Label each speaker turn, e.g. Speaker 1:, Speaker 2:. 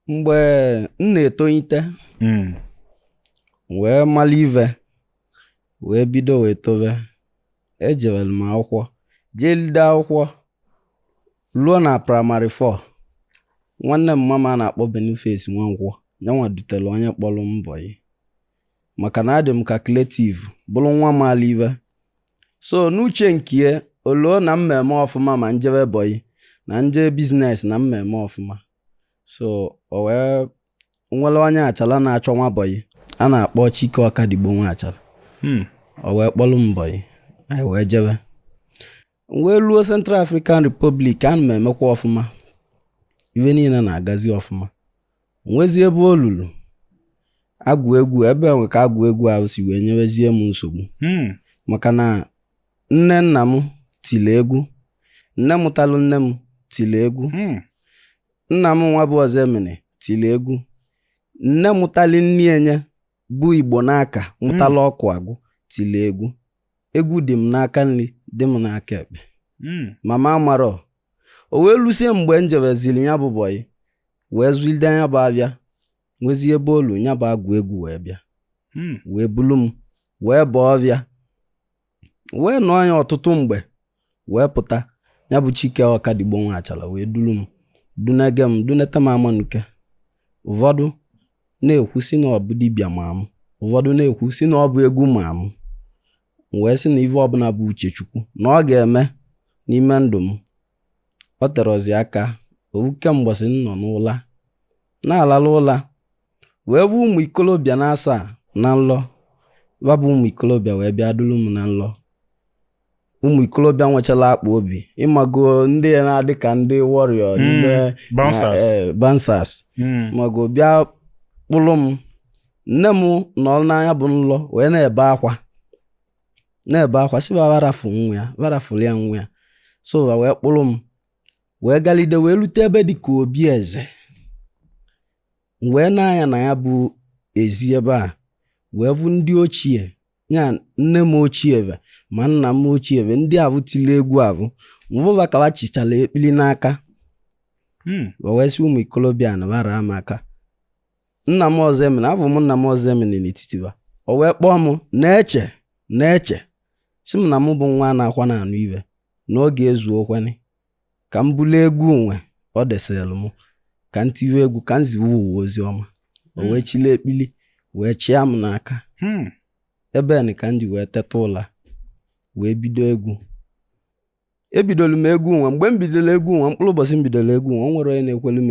Speaker 1: mgbe m na-etolite hmm. wee mara ive wee bido wee tobe ejewere m akwụkwọ jee lide akwụkwọ ruo na primary 4 nwanne m mama a na-akpọ Boniface Nwankwọ nyanwa dutere onye kpọrọ m bọyị maka na adị m calculative bụrụ nwa maala ive so n'uche nke ya o loo na m ma-eme ọfụma ma m jebe bọyị na m je business na m ma-eme ọfụma so o wee nwere onye Achala na-achọ nwa bọyị a na-akpọ Chike Ọkadigbo nwa Achala hmm. o wee kpọrọ m bọyị anyị wee jebe wee ruo Central African Republic ana m emekwa ọfụma ive niile na-agazi ọfụma nwezie ebe o lulu agwụ egwu ebe enwe ka agwụ egwu ahụ si wee nyewezie m nsogbu hmm. maka na Nne nna m tiri egwu. Nne mụtalụ nne m tiri egwu. Hmm. Nna m nwa bụ Ọzọemena tiri egwu. Nne mụtali nne nye bụ Igbonaka mụtalụ hmm. Ọkụagụ tiri egwu. Egwu dị m n'aka nri dị m n'aka ekpe. Hmm. Mama amarọ o wee lusie mgbe m jebeziri ya bụ bọyị wee zụlide ya bụ avịa nwezie ebe o lu ya bụ agwụ egwu wee bịa wee bulu m wee baa ọvịa wee nọọ ya ọtụtụ mgbe wee pụta ya bụ Chike Ọkadigbo nwa Achala wee duru m dunege m duneta m Amanuke ụfọdụ na-ekwu si na ọ bụ dibịa ma m ụfọdụ na-ekwu si na ọ bụ egwu ma m m wee sị na ive ọbụla bụ uche Chukwu na ọ ga-eme n'ime ndụ m ọ terọzi aka ovuke mbọsị m nọ n'ụla na-alalụ ụla wee vụ ụmụ ikolobịa na asaa na nlọ ba bụ ụmụ ikolobịa wee bịa duru m na nlọ ụmụ ikolobịa nwechara akpa obi ịmago ndị na-adị ka ndị warrior Mm, ndị bouncers. na, eh, bouncers Mm. mago bịa kpụrụ m nne m nọ na nya bụ nlọ wee na-ebe akwa na-ebe akwa si ba ba rafụ nwa ya ba rafụrụ ya nwa ya so ba wee kpụrụ m wee galide wee rute ebe dị ka obi eze m wee nee anya na ya bụ ezi ebe a wee vụ ndị ochie ya nne m ochie ve ma nna m ochie ve ndị avụ tili egwu avụ m vụ ba ka ba chịchara ekpili n'aka hmm. wee sị ụmụ ikolobịa na ba raa m aka nna m Ọzọemena avụ m nna m Ọzọemena n'etiti ba o wee kpọọ m Neche Neche si m na mụ bụ nwa na-akwa na-anụ ive na oge ezuokwenị ka m bulu egwu nwa o desielu m ka m tiwe egwu ka m ziwe ụwa ozi ọma o hmm. wee chili ekpili wee chịa m n'aka hmm. ebe nị ka m ji wee teta ụla wee bido egwu ebidolu m egwu nwa mgbe m bidoro egwu nwa mkpụrụ ụbọsị m bidoro egwu nwa o nwerọ onye na-ekwelu m